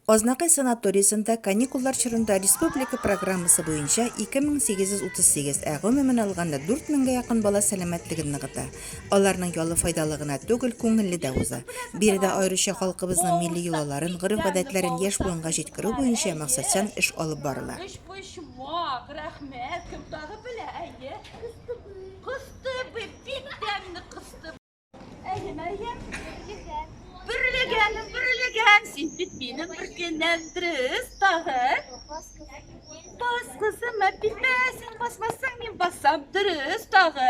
Азнакай санаториясендә каникуллар чорында республика программасы буенча 2838, ә гомумән алганда 4000 гә якын бала сәламәтлеген ныгыта. Аларның ялы файдалы гына түгел, күңелле дә уза. Биредә аеруча халкыбызның милли йолаларын, гореф-гадәтләрен яшь буынга җиткерү буенча максатчан эш алып барыла. Әйе, Мәрьям, бөрлегән. Бөрлегән, бөрлегән. Син бит минем бер кенәм дөрес тагы. Бас кызым, әпипә, син басмасаң, мин басам дөрес тагы.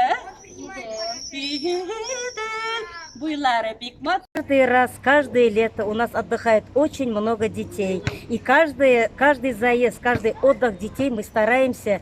Буйлары бик мат. Каждый раз, каждое лето у нас отдыхает очень много детей. И каждый, каждый заезд, каждый отдых детей мы стараемся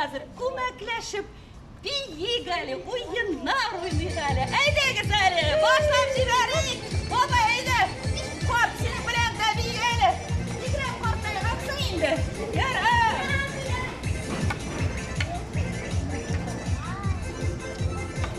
хәзер күмәкләшеп биик әле, уеннар уйныйк әле. Әйдәгез әле, башлап җибәрик. Баба, әйдә, карт синең белән дә биик әле. Игрәм карттай аксың инде. Яр, ә.